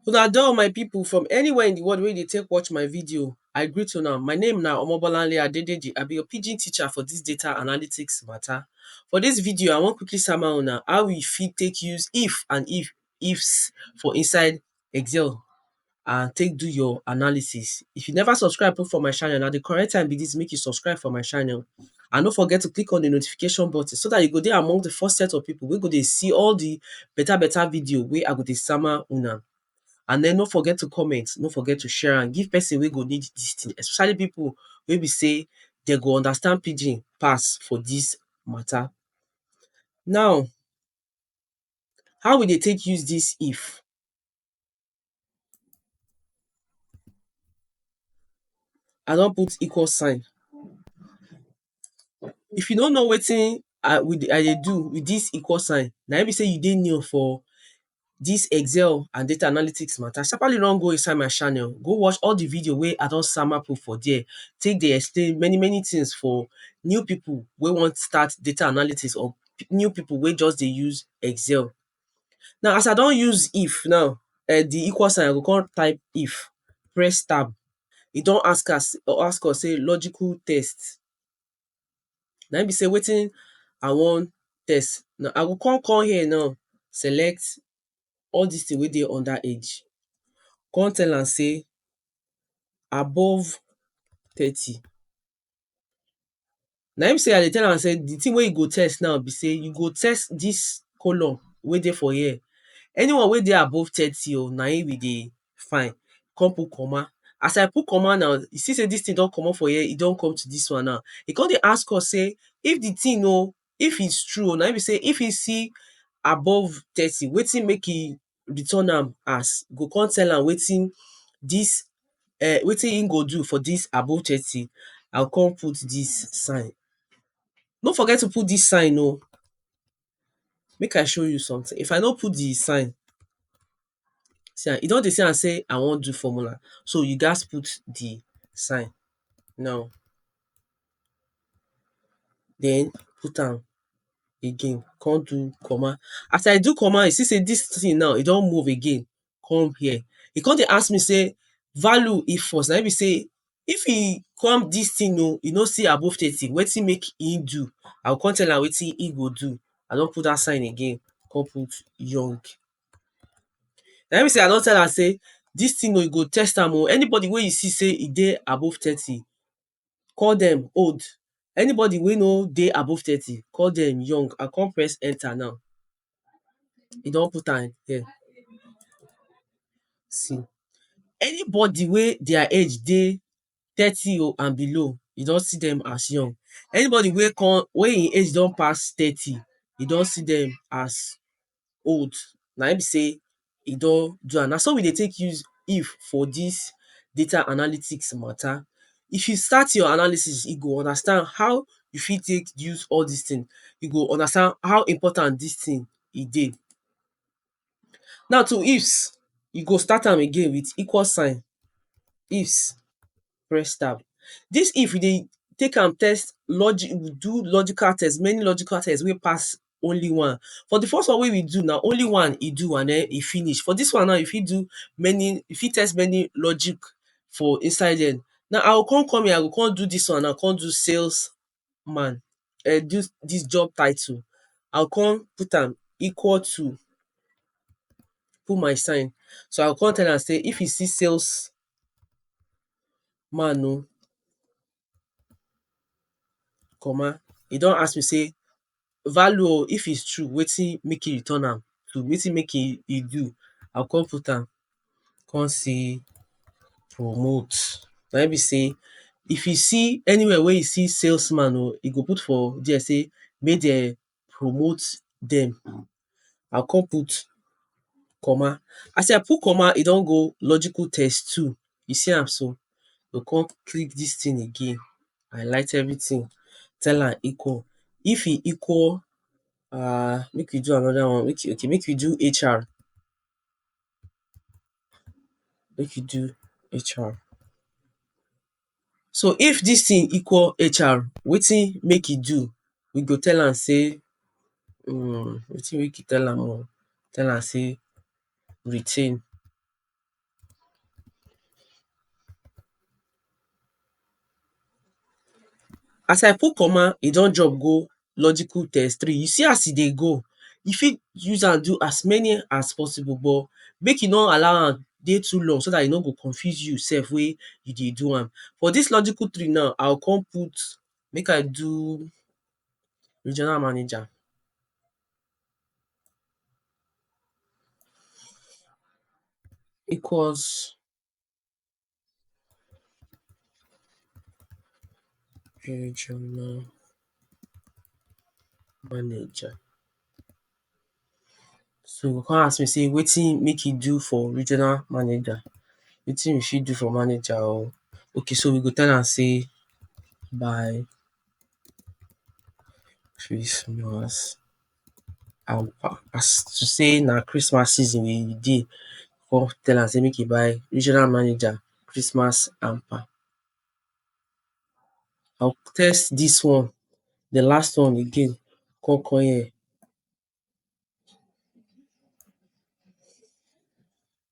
Una don my people from anywhere in the world wey dey take watch my video, I greet una. My name na Omobolanle Adedeji. I be your pidgin teacher for this data analytics matter. For this video, I wan quickly sama una how we fit take use if and if ifs for inside Excel and take do your analysis. If you never subscribe put for my channel, na di correct time be dis make you subscribe for my channel and no forget to click on di notification button so dat you go dey among di first set of pipo wey go dey see all di beta beta video wey I go dey sama una. And den no forget to comment, no forget to share am give pesin wey go need dis tin especially pipo wey be sey dem go understand pidgin pass for dis mata. Now, How we dey take use dis if? I don put equal sign. If you no know wetin I we dey I dey do with dis equal sign, na im be sey you dey new for dis excel and data analytics matter, sharpaly run go inside my channel, go watch all de video wey I don sama put for there, take dey explain many many things for new pipu wey wan start data analytics or new people wey just dey use excel. Now as I don use if now, um di equal sign I go come type if, press tab, e don ask us ask us sey logical test, na im be sey wetin I wan test, na I go come come here now select all dis thing wey dey under age, come tell am sey above thirty. Na im say I dey tell am say di tin wey you go test now be say you go test dis column wey dey for here, anyone wey dey above thirty o na im we dey find, come put comma, as I put comma now you see say dis tin don commot for here e don come to dis one now, e come dey ask us say if di tin o if is true o na im be say if e see above thirty wetin make e return am as go come tell am wetin dis um wetin him go do for dis above thirty I go come put dis sign no forget to put dis sign oh make I show you something if I no put the sign see am e don dey see am sey I wan do formula so you gats put the sign now den put am again kon do comma as i do comma you see sey dis tin now e don move again come here e kon dey ask me sey value equals na im be sey if e come dis tin oh e no see above thirty wetin make im do i go kon tell am wetin im go do i don put dat sign again kon put young na im be sey i don tell am sey dis tin oh you go test am oh anybody wey you see sey e dey above thirty call dem old, anybody wey no dey above thirty, call dem young, I con press enter now, e don put am here, see anybody wey their age dey thirty o and below, e don see dem as young, anybody wey con, wey e age don pass thirty, e don see dem as old na im be sey e don do am. Na so we dey take use if for dis data analytics matter. If you start your analysis, you go understand how you fit take use all dis thing. You go understand how important dis thing e dey. Now to ifs, you go start am again with equal sign, ifs. press tab. Dis if you dey take am test logic do logical test many logical test wey pass only one. For de first one wey we do now, only one e do and den e finish. For dis one now, e fit do many e fit test many logic for inside there. Now I go come come here, I go come do dis one now, come do sales man um dis dis job title, I go come put am equal to, put my sign. So I go come tell am sey if e see sales man oh, comma, e don ask me sey value o, if is true wetin make e return am to wetin make e e do, I go come put am come see promote na im be sey if you see anywhere wey you see sales man o, e go put for there sey make dem promote dem. I go come put comma. As I put comma, e don go logical test two. You see am so? I go come click dis thing again, highlight everything, tell am equal. If e equal um make we do another one. Okay okay make we do HR. Make we do HR. So if dis tin equal HR, wetin make e do? We go tell am sey um wetin make you tell am o? Tell am sey retain. As I put comma, e don jump go logical test three, you see as e dey go, you fit use am do as many as possible but make you no allow am dey too long so dat e no go confuse you sef wey you dey do am. For dis logical three now, I go come put make I do regional manager. Equals regional manager so you go come ask me say wetin make you do for regional manager wetin you fit do for manager oh okay so we go tell am say by christmas As to sey na Christmas season we dey, de con tell am sey make e buy regional manager Christmas hamper. I go test dis one, de last one again con come here.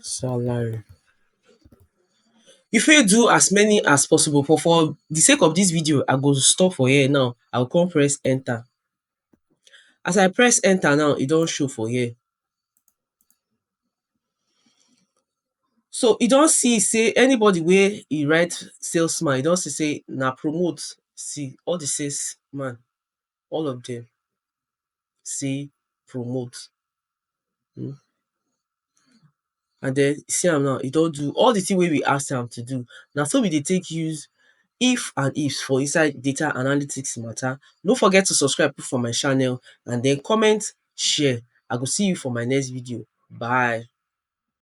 Salary. You fit do as many as possible but for di sake of dis video I go stop for here now I go come press enter. As I press enter now e don show for here. So e don see sey anybody wey e write sales man e don see sey na promote see all di sales man. all of dem say promote um and den see am now e don do all di tin wey we ask am to do na so we dey take use if and ifs for inside data analytics mata no forget to subscribe put for my channel and den comment share I go see you for my next video bye.